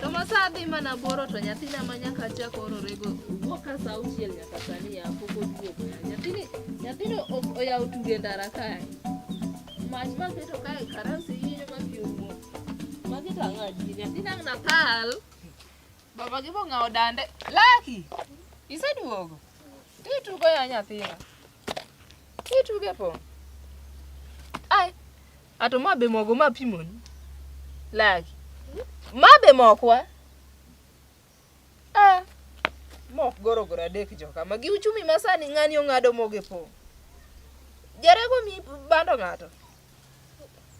Tomosadhi mana boro to nyathina ma nyaka chak ororego wuok ka sa auchiel nyaka sani ya pok oduogo ya. Nyathini nyathini o- oyawo tuge ndara kae. Mach maketo kae karansi yiyo ma pi owuok. Magi to ang'o adier? Nyathina ang' nakal. Baba gi bong'awo dande. Laki! Iseduogo? Titugo ya nyathina. Ituge po. Ai. Ato ma be mogo ma pimoni. Lagi. Ma be mokwa. Ah. Mok goro goro adek joka. Ma gi uchumi masani ng'ani ong'ado mogo e po. Jarego mi bando ng'ato.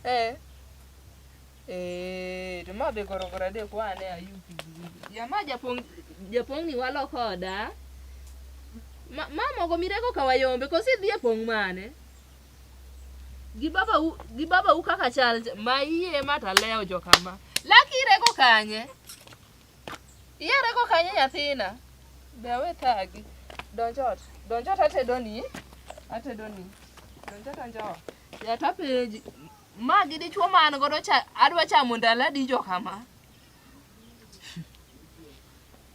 Eh. Eh, to ma be gorogoro adek wane ayub kigigi. Ya ma japong japong ni walo koda. Ma, ma mogo mirego ka wayombe kosi dhi e pong mane? Gi baba u, gi baba u kaka chal ma iye ma taleo jo kama. Laki irego kanye? Iyarego kanye nyathina? Be awe thagi. Donj ot. Donj ot atedoni. Atedoni. Donj ot donj ot. Yat apenji. Ma gi dichwo ma an godo cha adwa chamo ndalo adi jo kama?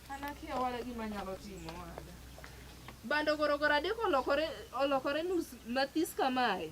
An akia wala gima nyalo timo wada. Bando gorogoro adeko olokore olokore nus mathis kamae.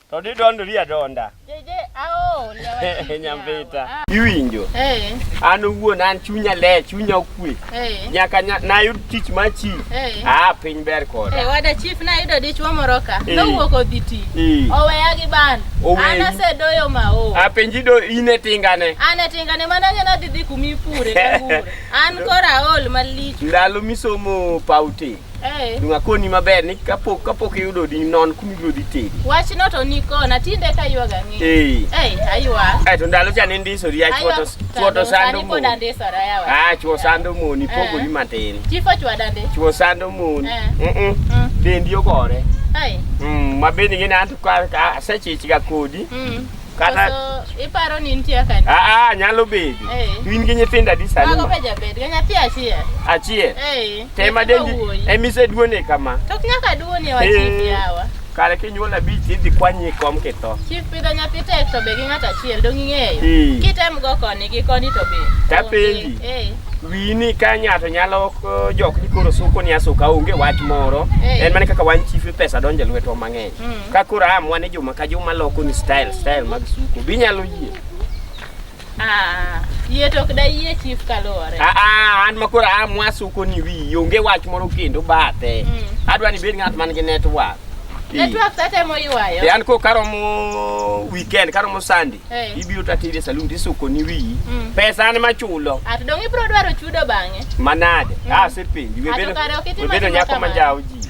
To di don ria donda. Jeje ao ria wa. Nyambita. Ah. Iwinjo. Eh. An wuon an chunya le, chunya okwe. Eh. Nyaka na yud tich ma chi. Eh. Ah, piny ber koda. Eh, wada chief na yudo dichwo moro ka. Eh. Nowuok odhi ti. Eh. Oweya gi ban. An asedoyo ma o. Ah, penji do ine tingane. An e tingane mana ngena dhi dhi kumi pure. An kora ol malich. Ndalo misomo pauti. Eh. Dong' akoni maber ni kapok kapok iyudo odi non kuma ibiro dhi tedi. Wachno to ni kona tinde ka yuaga ng'e. Eh. Eh, aywa. Eh, to ndalo cha ne ndisori ya chwoto chwoto sando mo. Sani ndisora yawa. Ah, chwo sando mo ni eh. pogori matin. Chifo chwada ndi. Chwo sando mo. Eh. Mm. -mm. Dendi ogore. Eh. Mm, mabeni ngene antu ka sechichiga kodi. Mm. Kata so, iparo ni nitie kani? Ah ah, nyalo bedo. Hey. Eh. Twin gi nyithindo adi sani? Mago be jabed, ga nyathi achiel. Achiel. Eh. Hey. Tema dendi. Emise duone kama. Tok nyaka duone wa chief eh. yawa. Kare kinyuol abich idhi kwanye kom kitho. Chief pidho nyathi tek to be gi ng'at achiel dong ing'eyo. Hey. Kitem go koni gi koni to be. Tapenji. Eh. Hey. wini ka ng'ato nyalo jok ni koro suko ni asuka onge wach moro hey. en mana kaka wan chief pesa donje lweto mang'eny Mm. Ka koro am wane juma ka juma loko ni style style mag suko. Bi nyalo yie. Ah, yie to ok da yie chief kaluwore. Ah ah, an ma koro am wasuko ni wi onge wach moro kendo bathe. Mm. Adwa ni bed ng'at man gi network. Ii. Network sate mo ywayo. Yan ko karomo weekend karomo Sunday. Eh. Ibiro tatire saloon tisuko ni wi. Mm. Pesa an ma chulo. At dong ibro dwaro chudo bang'e. Manade. Mm. Ah, sepenji. Ato kare ok itimo Webedo timo nyako kamano. manjawo ji.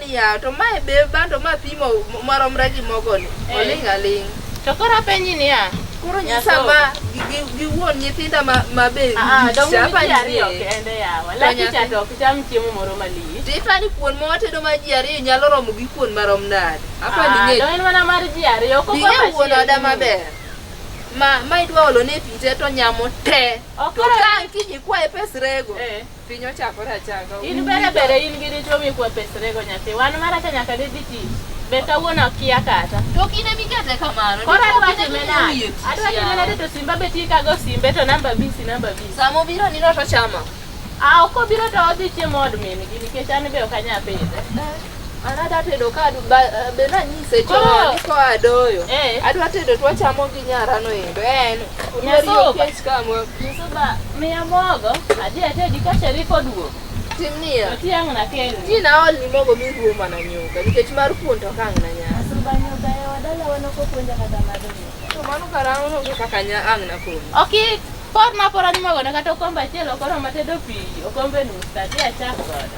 Ya, to mae be bando ma pimo maromre gi mogoni. Eh. Oling' aling'. To koro apenji niya. Koro nyisa ma gi wuon nyithinda ma ma be. Ah, ah dongo ji ariyo kende yawa. Laki cha to ok cham chiemo moro maliet. To ipani kuon ma watedo ma ji ariyo nyalo romo gi kuon marom nade? Apa ni ng'e. Ah, dongo mana mar ji ariyo. Koko ma chiemo. Ni wuon oda maber. Ma ma idwa olo ne pite to nyamo te. To ka kiji kwae pes rego. Eh. Piny ochakore achaka. In bere bere in gi dichwo mikwepesrego nyathi. Wan maracha nyaka didhi tich. Be kawuono akia kata. To kine mikete kamano. Koro adwa time nade? Adwa time nade to simba be tikago simbe to namba bisi namba bisi. Sama obiro nino to chama. Ah, ok obiro to odhi chiemo od min-gi nikech an be ok anyal pidhe. Anada tedo ka eh, be nanyise chon ni koa doyo. Eh. Adwa tedo to wachamo gi nyara no endo. En nyaso kech kamo. Nyaso ba miya mogo adhi atedi ka Sharif oduogo. Tim niya. Tiang' na kendo. Ti na ol ni mogo mi ruo mana nyuka nikech mar kuon to kang' na nya. Nyaso ba nyuka e wadala wano ko puonja kata mado. To mano karang'o no kaka nya ang' na kuon. Okay. Por na por ni mogo na kata okombe achiel okoro matedo pi okombe nus tati achak godo.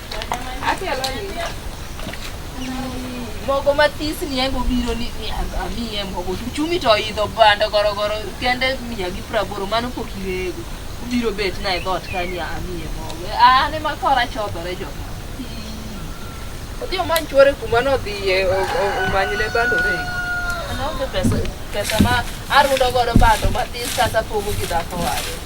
mogo mathis ni engo biro ni amiye mogo chumi to idho bando gorogoro kende mia gi praboro mano pok irego ubiro bet na e dhot kani amiye mogo ane makora chodhore jo odhi omany chwore kuma nodhiye omanyne bando rego anaonge pesa ma arudo godo bando mathis kata pogo gi dhako wade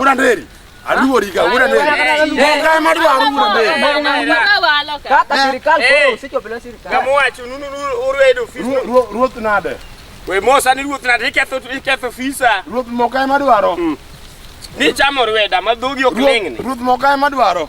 Uranderi aluorika ruoth nade we mosa ni ruoth nade iketho fisa ruoth mokae madwaro ni chamo rweda ma dhogi ok lingni ruoth mokae madwaro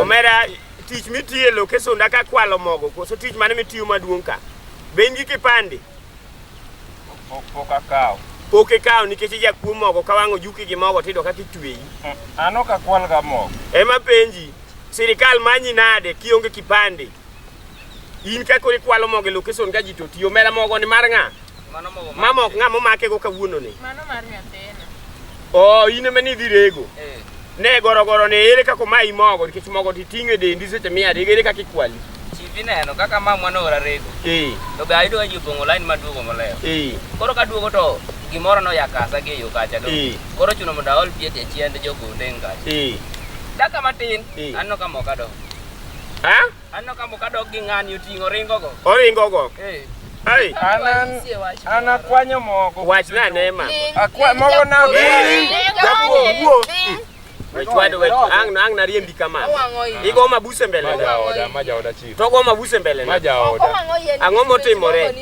Omera tich mitiyo e lok e sunda ka kwalo mogo koso tich mane mitiyo maduong' ka? Be in gi kipande? Pok akawo. Pok ikawo nikech ijakuo mogo ka wang'o juki gi mogo tiyudo kaka itweyi. Mm, an ok akwalga mogo. Ema penji, sirikal manyi nade kionge kipande? In kaka ikwalo mogo e location ka ji to tiyo, omera mogo ni mar ng'a? Mama ok ng'ama omake go kawuono ni. Mano mar nyathina. Oh, in ema ni dhirego. Eh. Ne gorogoro ne ere kaka ma imogo nikech mogo ti ting'e dendi seche mia adek ere kaka ikwali. Chivi neno kaka ma mwana ora rego. Eh. To ga ayudo ji opong'o line maduogo moloyo. Eh. Koro ka duogo to gimoro no yakasa gi yo kacha do. Eh. Koro chuno mondo aol pie tie chiende jogo ndeng kacha. Eh. Daka matin eh. anno ka moka do. Ha? Anno ka muka dog gi ng'ani oting'o ringo go. Oringo go. Eh. Ai. Anan ana kwanyo mogo. Wach na ne ma. Akwa mogo na. Japo wuo. Wechwado wech ang na ang na riembi kama. Igo mabuse mbele. Maja oda, maja oda chief. Togo mabuse mbele. Maja oda. Ang'o motimore?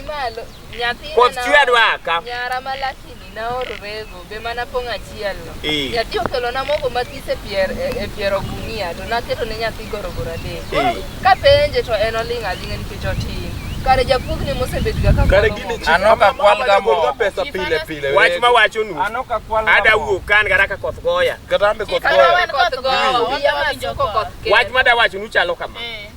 Koth chwe adwa ka. Nyara ma lakini naoro rego be mana pong' achiel no. Eh. Nyathi okelo na mogo mathis e pier e pier ogunia to naketo ne nyathi gorogoro adek. Eh. Ka penje to en oling' aling'a nikech otin. Kare japuog ni mosebet ga ka Kare gini chi. Ano ka kwal ga mo. Pesa pile pile. Wach ma wacho nu. Ano ka kwal ga mo. Ada wuok kan gara ka koth goya. Kata ambe koth goya. Koth goya. Wach ma da wacho nu chalo kama. Eh.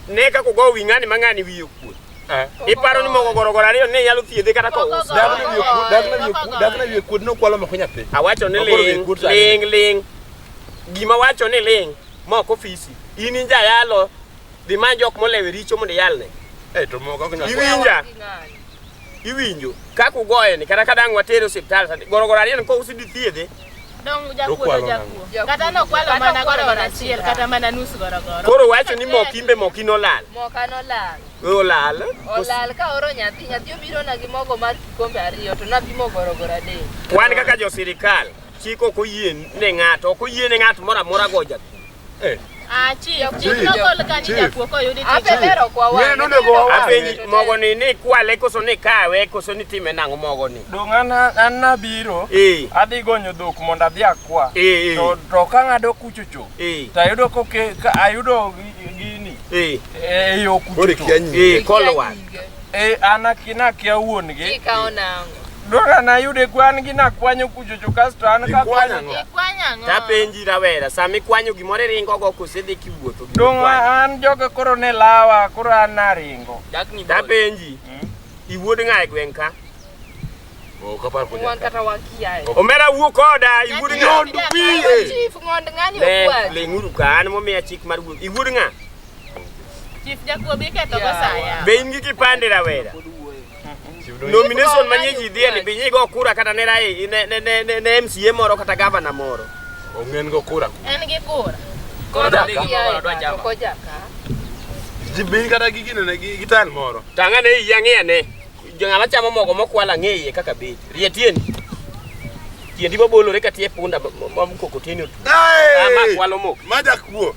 Ne ka kugo wing'ani mang'ani wiyo kuot. Eh. Iparo ni mogo gorogoro ariyo ne nyalo thiedhe kata ka ousi. Dak ne wiye kuot, dak ne wiye kuot, dak ne wiye kuot nokwalo moko nyathi. Awacho ni Ogoro wiye ling, kuot sani. ling, ling. Gima wacho ni ling, mok ofisi. In inja yalo, dhi many jok molewe richo mondo iyalne. Eh, to mogo ok nyal. Iwinja, iwinjo. Kaka ugoye ni, kata ka dang' watere osiptal, sani, gorogoro ariyo ni ka ousi dithiedhe, Koro wacho ni mok imbe mok in olal. Mok an olal. We olal. Olal ka oro nyathi, nyathi obiro na gi mogo mar kikombe ariyo to napimo gorogoro adek. Wan kaka jo sirikal, chik ok oyie ne ng'ato, ok oyie ne ng'ato moro amora go jakuo. Eh. Ah, chief, chief Chief. nogol ka ni Chief. jakuo koyudi Ape tich. dero kwa wang'e. Wen onego wawa. Apenji mogo ni ni kwale koso ni kawe koso ni time nang'o mogo ni. Dong' an an nabiro Eh. adhi gonyo dhok mondo adhi akwa Eh, eh. to to ka ng'ado kuchocho Eh. to ayudo koke ka ayudo gi- gini Eh. e yo Koro kuchocho ikia nyinge. Eh, kolwa. Eh, an akina kia wuon gi. Ikawo nango. Dora na yude kwan gi na kwanyo kuchocho kasto an ka kwanyo. Ikwanyo ang'o? Tapenji rawera, sama ikwanyo gimoro iringo go kose dhi kiwuotho. Dong an joga koro ne lawa, koro an naringo. Dakni boy. Tapenji, iwuod ng'a e gweng' ka? Ok apar kuja. Wan kata wakiaye. Omera wuo koda, iwuod ng'a? Nyandu wiye. Chief ng'ond ng'ani Le- okwal. Ling'uru ka an momiya chik mar wuoth. Iwuod ng'a? Chief Jakuo bi ketho go saya. Be in gi kipande rawera? Nomination manye ji dhie ni binyi go kura kata ne rai ne ne ne ne MCA moro kata governor moro. Ongen go kura. En gi kura. Koro dali gi moro dwa jama. Ko jaka. Ji bin kata gi gino ne gi gitan moro. Tanga ne yangia ne. Jongala chamo mogo mokwala ngeye kaka be. Rietieni. Tiendi bobolore ka tie punda ma mkokoteni. Ama kwalo mok. Maja kuo.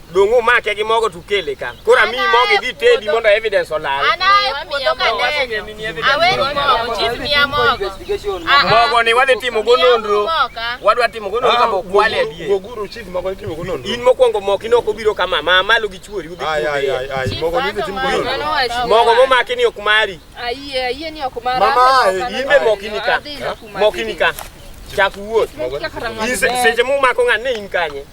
Donge omake gi mogo tukele ka. Koro ami mogo idhi tedi mondo evidence olal. Mogo ni wadhi timo go nonro. Wadwa timo go nonro kama okwale adie. Goguru chief mogo timo go nonro. In mokwongo moki no obiro kama ma malo gi chuori udhi kude. Ai ai ai mogo ni timo go nonro. Mogo momaki ni ok mari. Ayie ayie ni ok mari. Mama imbe moki ni ka. Moki ni ka. Chak wuoth. Seche mumako ng'ane in kanye.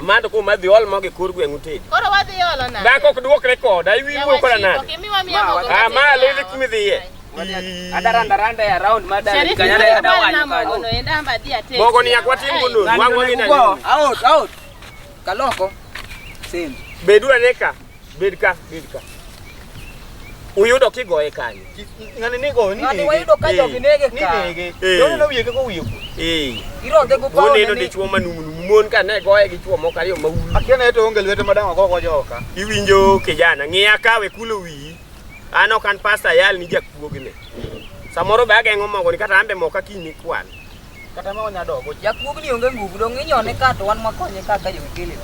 Mad kum adhi ol mogi kur gweng'u tedi. Koro wadhi olo na. Dhako ok duok rekod, ai wi wuo kola nade. Okay, miwa miya mogo. Ah, ma lele kumi dhiye. Adaranda randa ya round mada kanyana ya dawa nyuka. Ono enda amba dia tete. Mogo ni yakwa timu kundu. Wangu ni na. Out out. Kaloko. Same. Bedua neka. Bed ka, bed ka. Uyudo kigoye kanyo. Ng'ani nigo ni. Ng'ani wayudo ka jogi nege ka. Nege. Dole no wiye ka wiye ku. Eh. Ironde go pawo. Oneno dichwo manumu numu. Mon ka ne goye gi chwo moko ariyo ma ulu. Akiana to onge lwete madang' go go joka. Iwinjo kijana, ng'iya kawe kulo wiyi. An ok an pasta yal ni jakuogi ne. Samoro be ageng'o mogo ni kata ambe moka kiny ni kwan. Kata ma onya dogo. Jakuog ni onge nguvu dong inyone ka to wan makonye ka ka jokele.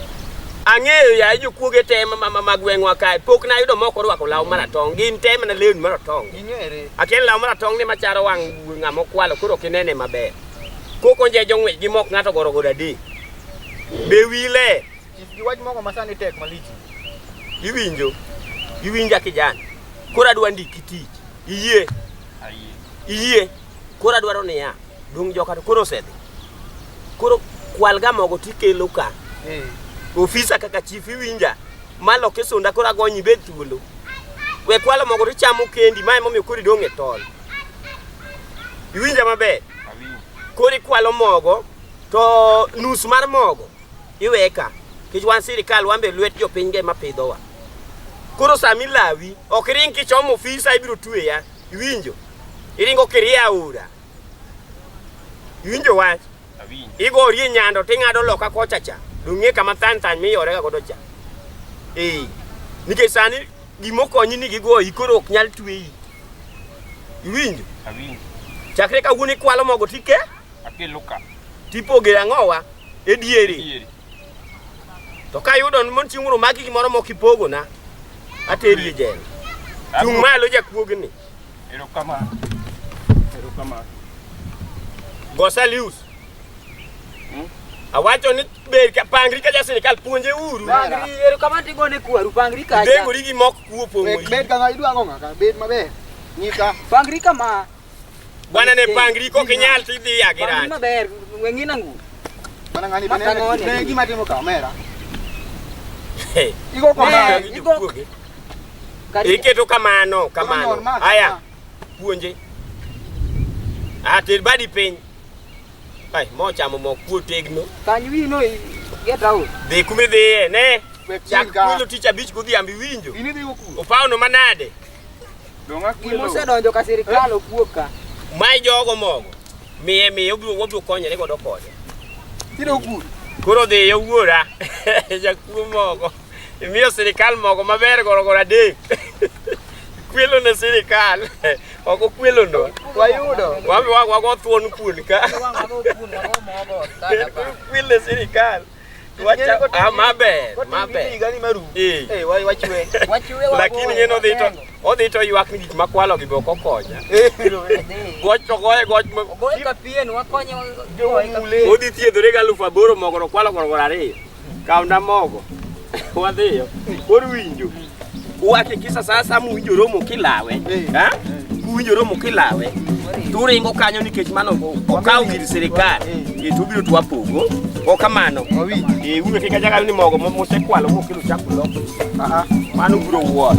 Ang'eyo ya jo kuoge te ma ma ma gweng'wa kae. Pok na yudo moko rwako law maratong. Gin te mana lewni maratong. Ing'ere. Akel law maratong ni macharo wang' ng'ama okwalo koro kinene maber. Koko nje jong'we gi mok ng'ato goro goda di. Be wile. Gi wach moko masani tek malich. Iwinjo. Iwinja kijana. Koro adwa ndiki tich. Iyie. Ayie. Iyie. Koro adwaro niya, dung' joka to koro osedhi. Koro kwalga mogo tikelo ka. Eh. Ofisa kaka chief iwinja. Malo kisunda koro agonyi bed thuolo. We kwalo mogo to chamo kendi, mae momiyo koro idong' e tol. Iwinja maber? Koro ikwalo mogo to nus mar mogo iweye ka. Kech wan sirikal wan be lwet jopiny ge ma pidhowa. Koro sami lawi, ok ring kichomo ofisa ibiro tweya. Iwinjo? Iringo kirie aora. Iwinjo wach? Awinjo. Igorie nyando ting'ado loka kocha cha. Dong'e kama than than miyorega godo cha. Ee. Nikech sani gimokonyi ni gigoyi koro ok nyal tweyi. Iwinjo? Awinjo. Chakre kawuono ikwalo mogo tike? Akelo ka. Tipoge ang'owa e diere. To ka yudo mon chieng' moro maki gimoro mok ipogona, ateri e jela. Chung' malo jakuogni. Erokamano. Erokamano. Go Salius. Hmm? Awacho ni ber ka pangri ka ja sirkal puonje uru. Pangri ero kamano tigone kwaru pangri ka. Dengori gi mok kuo pongori. Bed kama idwa ng'o ng'aka bed maber. Nyika. Pangri kama. Bwana ne pangri kok inyal to idhi ya gi rach. Maber, weng'i nangu. Bwana ng'ani Mata bende ng'oni. ne gima timo kamera. Hey, Igo Eh, kamera. igo- ijokuoge. Karibu. Iketo kamano kamano. Kamano, ma- Haya, puonje. Ah, ter badi piny. Ai, mochamo mok puo tegno. Kanyo wiyi no i- get out. Dhi kuma idhiye, ne. Wek Chak chika. kwelo tich abich godhiambo iwinjo. Ini dhigo kuno. Opawno manade? Gima osedonjo ka sirkal ok wuog ka. Mae jogo mogo. Miye miye obiro wabiro konyore godo kode. Tiro gur. Koro dhi yo wuora. Jakuo mogo. Imiyo sirkal mogo maber goro goro adek. Kwelo ne sirkal. Ok okwelo no. Wayudo. Wago thuon kuon ka. Kwelo ne sirkal. Ah, maber lakini ng'e nodhi to odhi to ywak ni gik makwalo gi be ok okonya goch to goye goch odhi thiedhore gi alufu aboro mogo to kwalo gorogoro ariyo kawna mogo wadhiyo kor winjo Uhakikisha sasa muwinjo romo kilawe. Eh. Ha? Muwinjo romo kilawe. Turingo kanyo nikech mano okawo gir sirikal. Eh. eh, tubiro twapogo. Ok kamano. Eh, uwe kika jaga ni mogo mosekwalo mokelo chakulo. Aha. Mano biro wuoth.